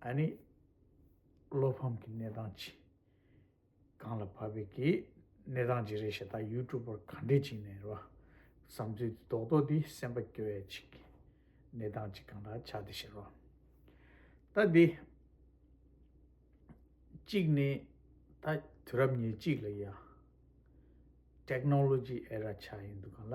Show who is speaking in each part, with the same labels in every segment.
Speaker 1: ཨ་ནི། བློ་ཕམ་གྱི་གནས་སྟངས་ཅི། གང་ལ་བབས་པའི་གི་གནས་སྟངས་ཅི་རེད་ཞེ་ད་ཡུལ་གྲུབ་པར་ག་འདྲས་བྱིན་ནས་རོ། བསམ་ཚུལ་དེ་རྡོག་རྡོག་འདི་སེམས་པ་སྐྱོ་བས་ཅི། གནས་སྟངས་ཅི་གང་འདྲ་ཆགས་འདི་ཞེ་རོ། ད་འདི། གཅིག་ནི། ད་དུས་རབས་ཉེར་གཅིག་ལ་ཡ། Technology Era། ཆགས་ཡིན་འདུག་ག་ལ།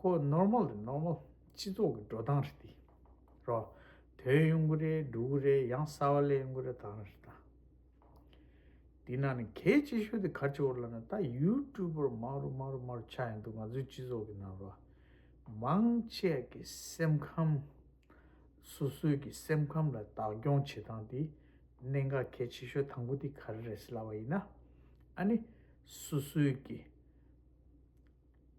Speaker 1: ཁོ་ནོར་མོ་རེད་ནོར་མོ་སྤྱི་ཚོགས་ཀྱི་འགྲོ་སྟངས་རེད་དེ་རོ། དོན་ཡོང་གི་རེད་འགྲོ་གི་རེད་ཡང་གསར་བ་ལས་ཡོང་གི་རེད་དང་རེད་དང། དེ་ན་ནི་གལ་ཆེ་ཤོས་དེ་ག་ཆེ་བོ་ལ་ནི་ད་ཡུའུ་ཀྲུའུ་པར་མང་རུ་མང་རུ་མང་རུ་ཆགས་ཡོང་འདུག་ང་ཚོའི་སྤྱི་ཚོགས་ཀྱི་ནང་རུ། མང་ཆས་ཀྱི་སེམས་ཁམས། སོ་སོའི་ཀྱི་སེམས་ཁམས་ལ་བདག་སྐྱོང་བྱེད་སྟངས་དེ་གནད་འགག་གལ་ཆེ་ཤོས་དང་པོ་དེ་ག་རེ་རེད་ཟེར་ལབ་པ་ཡིན་ན། ཨ་ནི་སོ་སོའི་ཀྱི།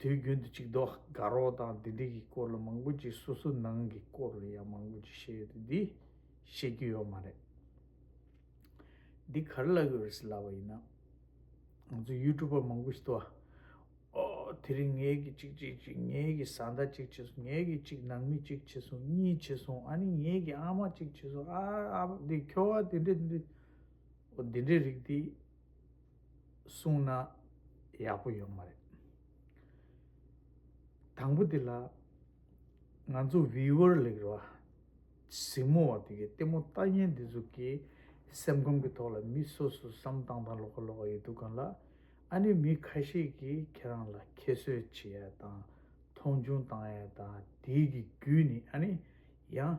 Speaker 1: དུས་རྒྱུན་དུ་ཅིག་རྡོག་དགའ་རོགས་དང་དེ་འདི་གི་སྐོར་ལ་མང་པོ་ཅིག་སོ་སོ་ནང་གི་སྐོར་ལ་ཡང་མང་པོ་ཅིག་བཤད་ཡོད་དེ་འདི་བཤད་རྒྱུ་ཡོད་མ་རེད། འདི་གར་བཀླག་ཡོད་རེད་ལབ་པ་ཡིན་ན། ང་ཚོ་ཡུལ་གྲུ་པ་མང་པོ་ཞིག་དུ་བ། ཨོ། དེ་རིང་ངེད་ཀྱི་ཅིག་བྱེད་ཅིག་ངེད་ཀྱི་བཟའ་ཟླ་ཅིག་བྱེད་སོང་ངེད་ཀྱི་ཅིག་ནང་མི་ཅིག་བྱེད་སོང་གཉིས་བྱེད་སོང་ཨ་ནི་ངེད་ཀྱི་ཨ་མ་ཅིག་བྱེད་སོང་ཨ་ཨ་ཕ་འདི་ཁྱོ་བ་དེ་འདྲས་འདི་འདྲས་འོ་འདི་འདྲས་རིགས་འདི། གསུངས་ན་ཡག་པོ་ཡོད་མ་རེད། དང་པོ་དེ་ལ། ང་ཚོ Viewer ལས་ར་བ་གཟིགས་མོ་བ་དེ་གི་ལྟད་མོ་ལྟ་ཉན་འདི་ཚོ་གི་སེམས་ཁམས་ཀྱི་ཐོག་ལ་མི་སོ་སོ་བསམ་བཏང་བཏང་ལོག་ཁ་ལོག་ཁ་ཡོད་འདུག་གང་ལ། ཨ་ནི་མི་ཁ་ཤས་ཀྱི་ཁྱེད་རང་ལ་ཁྱད་གསོད་བྱེད་ཡ་དང་མཐོང་ཆུང་བཏང་ཡ་དང་དེའི་གི་རྒྱུས་ནི་ཨ་ནི་ཡང།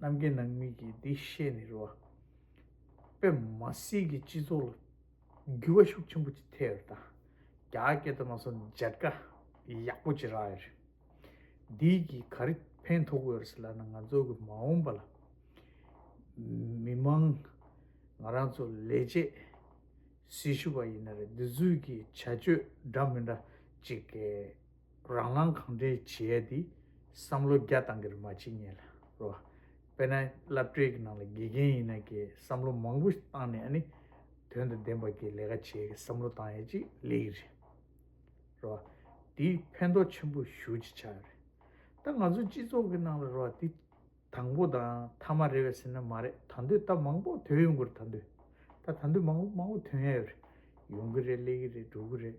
Speaker 1: རྣམ་རྒྱལ་ནང་མི་གིས་འདི་ཤེས་ནས་རུ་བ་པད་མ་སྲིད་ཀྱི་སྤྱི་ཚོགས་ལ་འགྱུར་བ་ཤུགས་ཆེན་པོ་ཅིག་ཐེབས་ཡོད་དང་རྒྱ་སྐད་དུ་མ་སོང་མཇལ་ཁ་ཡག་པོ་ཅིག་རག་ཡོད་རེད། འདི་གིས་ག་རེ་ཕན་ཐོགས་ཡོད་རེད་ཟེར་ན་ང་ཚོ་གི་མ་འོངས་པ་ལ་མི་མང་ང་རང་ཚོ་ལས་བྱེད་སྲི་ཞུ་བ་ཡིན་ན་རེད་འདི་ཚོའི་གི་བྱ་སྤྱོད་འདྲ་མི་འདྲ་ཅིག་གིས། རང་རང་གང་དྲན་བྱས་ཏེ་བསམ་བློ་རྒྱ་བཏང་གི་རེད་མ་བྱེད་ངེས་ལ་རེད། དཔེར་ན་བསླབ་གྲྭའི་གི་ནང་ལ་དགེ་རྒན་ཡིན་ན་གི་བསམ་བློ་མང་པོ་བཏང་ནས་ཨ་ནི་དོན་དང་ལྡན་པ་གི་ལས་ཀ་བྱས་གི་བསམ་བློ་བཏང་ཡ་ཅིག་ལེགས་གི་རེད། རེད་བ། དེ་ཕན་ཐོག་ཆེན་པོ་ཞུ་ཅིག་ཆ་རེད། ད་ང་ཚོ་སྤྱི་ཚོགས་གི་ནང་ལ་རེད་བ་དེ་དང་པོ་དང་མཐའ་མ་རེད་བས་ཟེར་ན་མ་རེད་ད་འདོད་ད་མང་པོ་དོན་ཡོང་གི་རེད་ད་འདོད་ད་ད་འདོད་མང་པོ་མང་པོ་དོན་ཡ་ཡོད་རེད་ཡོང་གི་རེད་ལེགས་གི་རེད་འགྲོ་གི་རེད།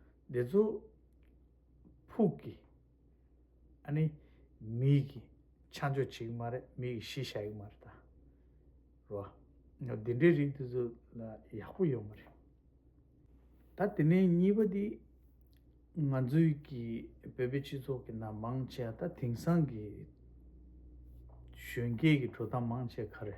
Speaker 1: འདི་ཚོ་ཕུགས་ཀྱི་ཨ་ནི་མིག་གི་ཆ་འཇོག་བྱེད་ཀྱི་མ་རེད་མིག་གི་གཞི་བཞག་གི་མ་རེད་ད་རོ། འདི་འདྲའི་རིགས་དེ་ཚོ་ལ་ཡག་པོ་ཡོད་མ་རེད། ད་དེ་ནས་གཉིས་པ་དེ་ང་ཚོའི་གི་བོད་པའི་སྤྱི་ཚོགས་ཀྱི་ནང་མང་ཆེ་བ་ད་དེང་སང་གི་གཞོན་སྐྱེས་ཀྱི་དྲོ་ཐང་མང་ཆེ་བ་ག་རེ།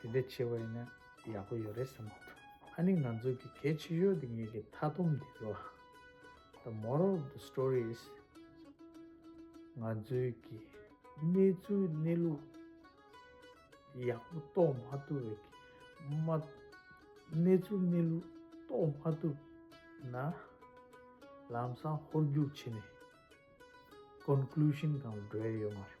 Speaker 1: དེ་འདྲ་བྱེད་པ་ཡིན་ན་ཡག་པོ་ཡོད་རེད་བསམ་གྱི་འདུག་ཨ་ནི་ང་ཚོ་གི་གལ་ཆེ་ཤོས་དེ་ངེད་ཀྱི་མཐའ་སྡོམ་དེ་རེད་བ། The moral of the story is། ང་ཚོའི་གི་གནས་ཚུལ་གནས་ལུགས་ཡག་པོ་རྟོགས་མ་ཐུབ་བའི་གི་མ། གནས་ཚུལ་གནས་ལུགས་རྟོགས་མ་ཐུབ་ན། ལམ་སང་ཧོར་རྒྱུགས་བྱེད་ནས Conclusion དང་འབྲེལ་ཡོད་མ་རེད།